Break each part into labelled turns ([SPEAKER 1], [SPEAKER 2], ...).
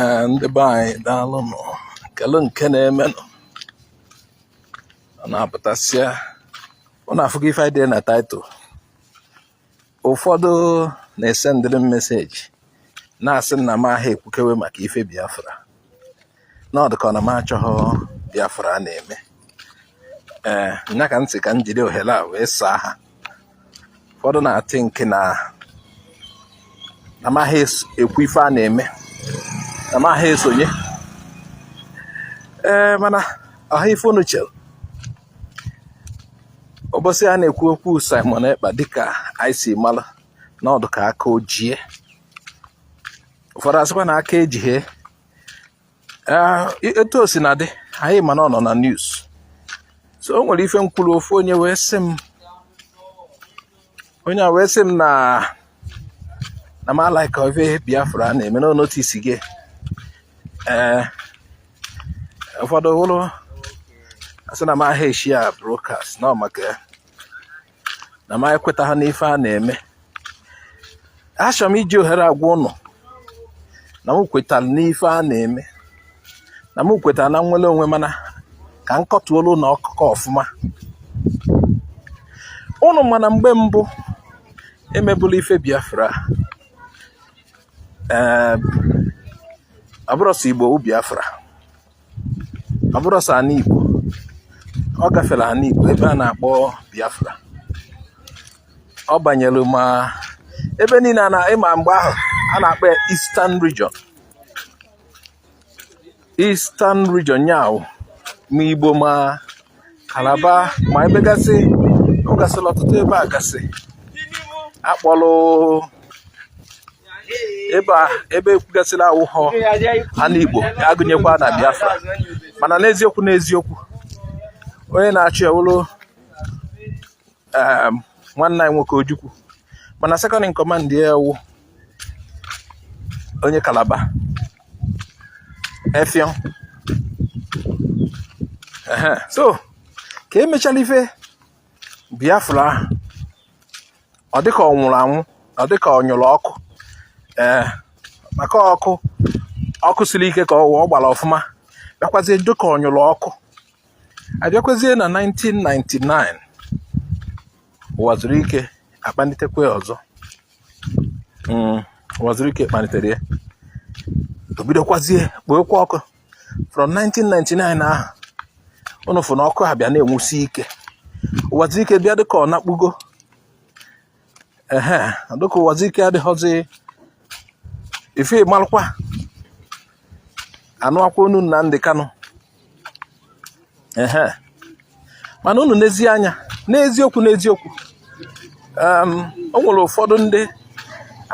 [SPEAKER 1] Ee, ndị be anyị daalụ nụ kele nke na-emenụ ụnụ apụtasịa ụnụ afụgo ife anyị dee na title ụfọdụ na-esendịrị m message na-asị m na m aha ekwukewe maka ife Biafra na ọ dịka ọ na m achọghị Biafra a na-eme ee nya ka m sị ka m jiri ohere a wee saa ha ụfọdụ na-athinke na m aha ekwu ife a na-eme na m aha esonye ee mana ọha ife unu chere ụbọchị a na-ekwu okwu Simon Ekpa dịka anyị si mara na ọ dịka aka ejie ụfọdụ asịkwa na aka ejighe Ah, etu o sina dị anyị ma na ọ nọ na news so o nwere ife m kwuru ofu onye wee sị m onye a wee sị m na na m alaika ife Biafra a na-eme na ọ noticego ee eh, ụfọdụ wụrụ asị na m aha eshare broadcast na maka ya na m ekwetaha n'ife a na-eme achọrọ m iji ohere a gwa ụnụ na m kwetara n'ife a na-eme na m kwetara na nnwere onwe mana ka m kọtụọlụ ụnụ akụkọ ọfụma ụnụ ma na mgbe mbụ emebụla ife Biafra ee ọ bụrọ sọ Igbo wụ Biafra ọ bụrọ sọ ana Igbo ọ gafere ana Igbo ebe a na-akpọ Biafra ọ banyere ma ebe niile ị ma mgbe ahụ a na-akpọ ya Eastern Region Eastern Region nya wụ ma Igbo ma Calabar ma ebe gasị ọ gasịla ọtụtụ ebe a gasị akpọlụ ebe a ebe ekwugasịla awụhọ ana Igbo agụnyekwa na Biafra mana n'eziokwu n'eziokwu onye na-achị ya wụrụ um, nwanne anyị nwoke Ojukwu mana second in command ya wụ onye Calabar Effiong so ka emechala ife Biafra ọ dịka ọ nwụrụ anwụ ọ dịka ọ nyụrụ ọkụ ee eh, maka ọkụ ọkụ siri ike ka ọ gbara ọfụma bịakwazie dịka ọ nyụrụ ọkụ a bịakwazie na 1999 Uwazuruike akpalitekwa ya ọzọ mm, Uwazuruike kpalitere ya o bidokwazie kpookwa ọkụ from 1999 ahụ ụnụ fụ na ọkụ abịa na-enwusi ike Uwazuruike bịa dịka ọ nakpugo ehe dịka Uwazuruike adịghọzi ife malụkwa anụwakwa onu Nnamdi Kanu ehe mana unu nezie anya n'eziokwu n'eziokwu o nwere ụfọdụ ndị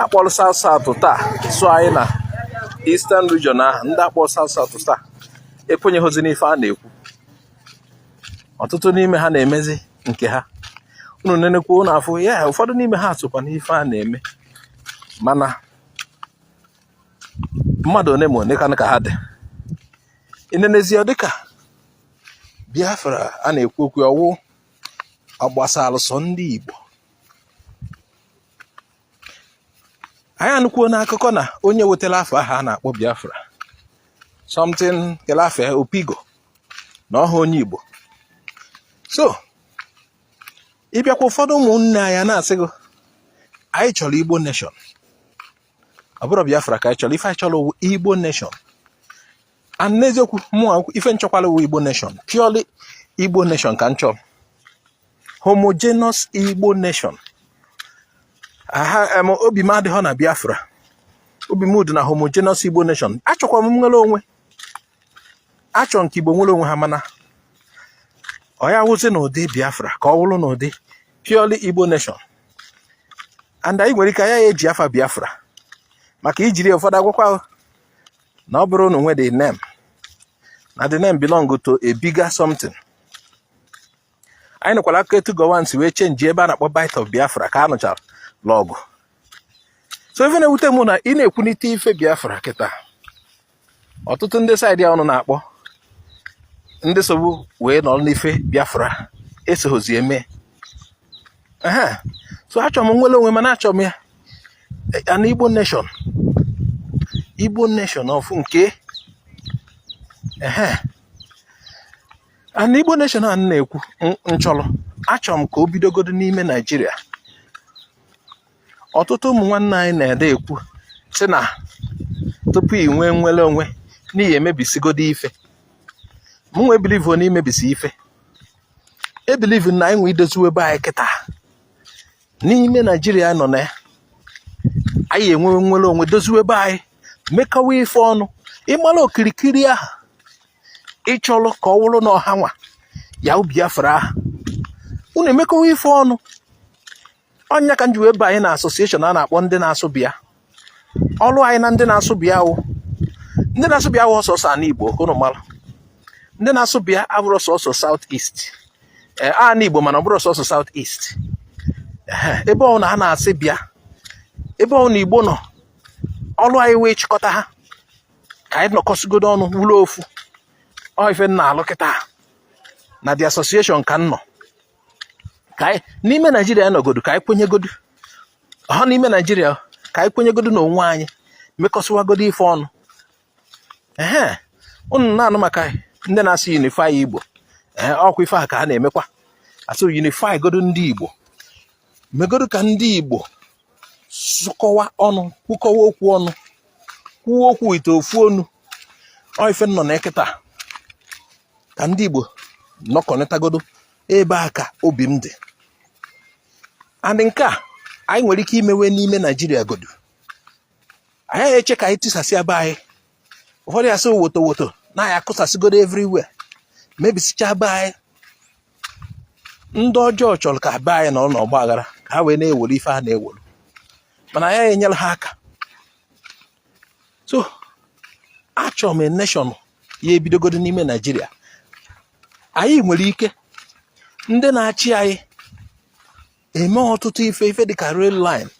[SPEAKER 1] akpọrọ South South taa so anyị na Eastern Region ahụ ndị akpọrọ South South taa ekwenyeghịzi n'ife a na-ekwu ọtụtụ n'ime ha na-emezi nke ha unu nenekwa unu afụ ya ụfọdụ n'ime ha sokwa n'ife a na-eme mana mmadụ one ma one ka ha dị i nenezie ọ dịka Biafra a na-ekwu okwu ọ wụ ọ gbasalụ sọ ndị Igbo anyị anụkwuo n'akụkọ na onye wetara afa ahụ a na-akpọ Biafra something kelafe Opigo na ọ họ onye Igbo so ị bịakwa ụfọdụ ụmụnne anyị na-asị gị anyị chọrọ Igbo nation ọ bụrọ Biafra ka anyị chọrọ ife anyị chọrọ Igbo nation and n'eziokwu mụnwa ife m chọkwalụ wụ igbo nation purely igbo nation ka m chọ homogeneous igbo nation aha em obi m adịghọ na biafra obi m dị na homogeneous igbo nation achọkwa m nnwere onwe achọ m ka igbo nwere onwe ha mana ọ ya wụzi n'ụdị biafra ka ọ wụrụ n'ụdị purely igbo nation and anyị nwere ike anyị ya eji afa biafra maka ijiri ụfọdụ agwakwa na ọ bụrọ unu nwe the name na the name belong to a bigger something anyị nụkwara akụkọ etu Gowon si wee chenji ebe a na-akpọ Bight of Biafra ka a nụchalụ ọgụ so ife na-ewute m na ị na-ekwunite ife Biafra kịta ọtụtụ ndị side a unu na-akpọ ndị sobu wee nọrọ n'ife Biafra esoghozi eme ehe so achọrọ m nnwere onwe mana achọrọ m ya an Igbo nation Igbo nation of nke ehe an Igbo nation a m na-ekwu m chọrọ achọrọ m ka o bidogodo n'ime Naijiria ọtụtụ ụmụ nwanne anyị na-ede ekwu sị na tupu ị nwee nnwere onwe na ị ya emebisigodo ife mụnwa ebilivo na imebisi ife ebelivu m na anyị nwe idoziwe ebe anyị kịta n'ime naijiria nọ na ya anyị enwe nnwere onwe doziwe ebe anyị mekawa ife ọnụ ị mara okirikiri ahụ ị chọrọ ka ọ wụrụ na ọ hanwa ya wụ Biafra ahụ unu emekawa ife ọnụ ọ nya ka m ji wee banye na association a na-akpọ ndị na-asụ bịa ọrụ anyị na ndị na-asụ bịa wụ ndị na-asụ bịa wụ sọsọ ana igbo unu mara ndị na-asụ bịa abụrọ sọsọ south east ee eh, ana igbo mana ọ bụrọ sọsọ south east eh, ebe ọbụla ha na-asụ bịa ebe ọbụla igbo nọ ọrụ anyị wụ ịchịkọta ha ka anyị nọkọsigodo ọnụ wụrụ ofu ọ ife m na-alụ kịtaa na the association ka m nọ ka anyị n'ime naijiria nọgodu ka anyị kwenyegodu ha n'ime naijiria ka anyị kwenyegodu na onwe anyị mekọsịwagodo ife ọnụ ehe unu na-anụ maka ndị na-asị unify igbo ee ọkwa ife a ka ha na-emekwa a sị unify godu ndị igbo megodu ka ndị igbo sụkọwa ọnụ kwukọwa okwu ọnụ kwuo okwu ite ofu onu ọ ife m nọ na ya kịtaa ka ndị Igbo nọkọnịtagodo ebe a ka obi m dị and nke a anyị nwere ike imewe n'ime Naijiria godu a yaghị eche ka anyị tisasị be anyị ụfọdụ ya-asị woto woto na a ya-akụsasịgodo everywhere mebisicha be anyị ndị ọjọọ chọrọ ka be anyị nọrọ n'ọgba aghara ka ha wee na-ewere ife ha na-ewere mana a yaghị enyere ha aka so achọrọ m nation ya ebidogodo n'ime naijiria anyị nwere ike ndị na-achị anyị eme ọtụtụ ife ife dịka rail line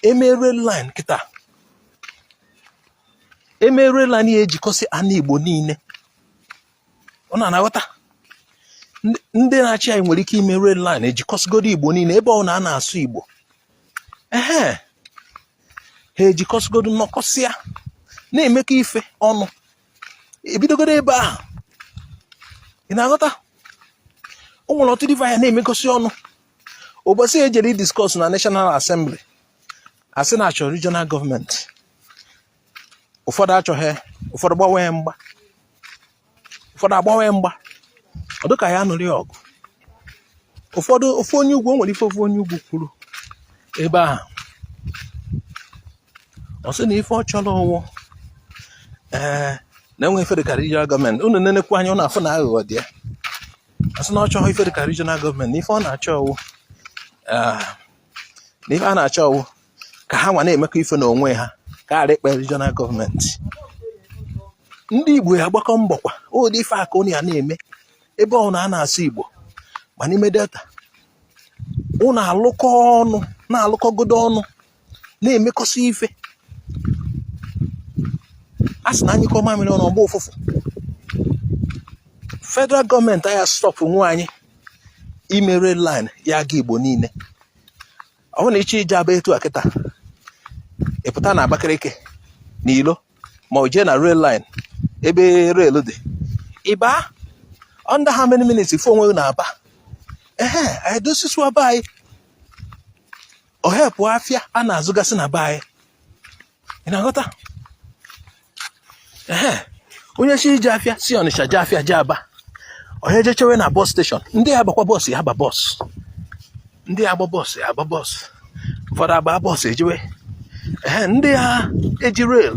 [SPEAKER 1] eme rail line kịta eme rail line ya ejikọsị ana igbo niile unu a na-aghọta ndị na-achị anyị nwere ike ime rail line ejikọsịgodo igbo niile ebe ọbụna a na-asụ igbo ehe ha ejikọsịgodo nọkọsịa na-emekọ ife ọnụ ebidogodo ebe ahụ ị na-aghọta o nwere ọtụtụ ife anyị ya na-emekọsị ọnụ ụbọchị ejere discuss na National Assembly asị na achọ regional gọọmenti ụfọdụ achọghị ụfọdụ gbanwee mgba ụfọdụ agbanwee mgba ọ dịka a ya-anụrị ọgụ ụfọdụ ofu onye ugwu o nwere ife ofu onye ugwu kwuru ebe ahụ ọ sị na ife ọ chọrọ wụ ee na e nwee ife dịka regional gọọmenti unu nenekwu anya unu afụ na aghụghọ dị ya ọ sị na ọ chọghị ife dịka regional gọọmenti na ife ọ na-achọ wụ na ife a na-achọ wụ ka ha nwa na-emekọ ife n'onwe ha ka a ghara ịkpọ ya regional gọọmenti ndị Igbo ya agbakọ mbọ kwa ụdị ife a ka unu ya na-eme ebe ọbụna a na-asụ Igbo ma n'ime delta unu alụkọ ọnụ na-alụkọgodo ọnụ na-emekọsị ife a sị na anyụkọọ mamịrị ọnụ ọ gbaa ụfụfụ federal gọọmenti aya stọpụnwu anyị ime rail line ya aga Igbo niile ọ bụrụ na ị chọọ ije Aba etu a kịta ị pụta na Abakaliki na ilo ma o jee na rail line ebe rail dị ị baa under how many minutes ị fụ onwe ị na Aba ehe anyị dozisịa be anyị ọ hepụ afịa a na-azụgasị na be anyị ị na-aghọta ee onye chọọ ije afịa si Ọnịcha jee afịa jee Aba onye jee chewe na bọs steshọn ndị ya agbakwa bọs ya aba bọs ndị ya agba bọs ya agba bọs ụfọdụ agba bọs ejewe ee ndị ya eji rail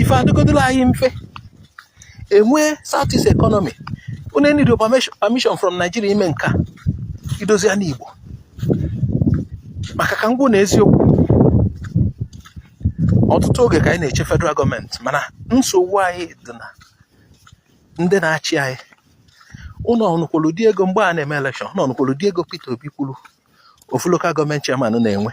[SPEAKER 1] ife adịgodoro anyị mfe enwee south east economy unu enidirọ permission from Nigeria ime nke a idozi ana Igbo maka ka m gwa unu eziokwu ọtụtụ oge ka anyị na-eche federal gọọmenti mana nsogbu anyị dị na ndị na-achị anyị unu ọ nụkwolu ụdị ego mgbe a na-eme elekshọn unu ọ nụkwolu ụdị ego Peter Obi kwuru ofu lokal gọọmenti chairman na-enwe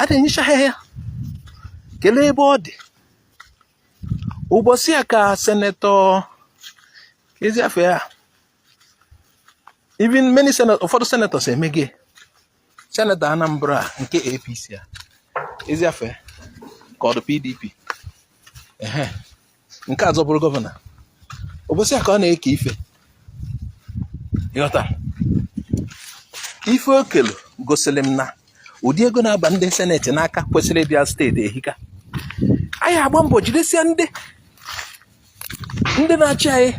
[SPEAKER 1] a na-enyecha ha ya kelee ebe ọ dị ụbọchị a ka senetọ kezị afa ya even many senatọ ụfọdụ senatọs emege senetọ Anambra nke APC a kezị afa ya ka ọ dị PDP nke a zọbụrụ gọvanọ ụbọsị a ka ọ na-eke ife ị ghọta ife o kelu gosiri m na ụdị ego na-aba ndị seneti n'aka kwesịrị ịbịa steeti ehika anyị agba mbọ jidesie ndị ndị na-achị anyị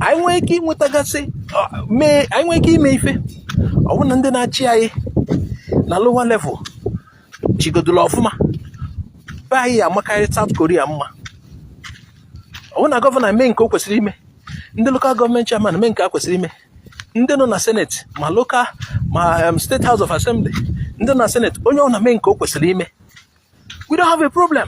[SPEAKER 1] anyị nwee ike inwetagasị anyị nwee ike ime ife ọ bụrụ na ndị na-achị anyị na lower level chịgodula ọfụma be anyị ya amakarị South Korea mma ọ wụ na gọvanọ mee nke o kwesịrị ime ndị lokal gọọmenti chairman mee nke ha kwesịrị ime ndị nọ na seneti ma lokal ma um, steeti house of assembly ndị nọ na seneti onye ọwụna mee nke o kwesịrị ime we don't have a problem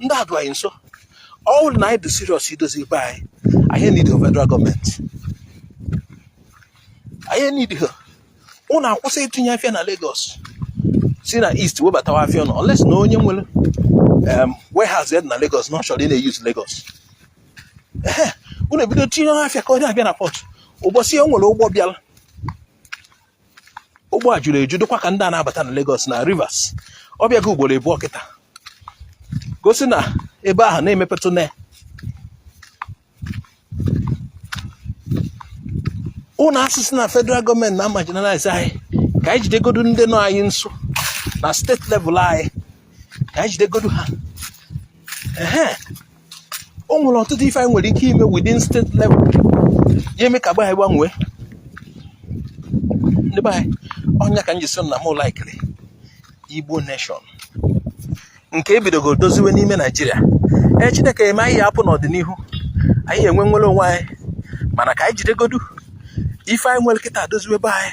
[SPEAKER 1] ndị a dị anyị nso ọ bụrụ na anyị dị serious idozi be anyị anyị need federal gọọmenti anyị need ha unu akwụsị itinye afịa na Lagos si na east webatawa afịa unu unless na onye nwere warehouse na Lagos na ọ chọrọ ị na-eyuz Lagos unu ebido tinye afịa ka ọ na-abịa na pọt ụbọchị o nwere ụgbọ bịara ụgbọ a juru eju dịkwa ka ndị a na-abata na Lagos na Rivers ọ bịago ugboro abụọ kịta gosi na ebe ahụ na-emepetụ na unu asị sị na federal government na-amarginalize anyị ka anyị jidegodu ndị nọ anyị nso na state level anyị ka anyị jidegodu ha o nwere ọtụtụ ife anyị nwere ike ime within state level ya eme ka be anyị gbanwee ndị be anyị ọ nya ka m ji sị na m laikiri igbo nation nke e bidogo doziwe n'ime naijiria ee chineke eme anyị ya apụ n'ọdịnihu anyị enwe nwere onwe anyị mana ka anyị jidegodu ife anyị nwere kịta doziwe be anyị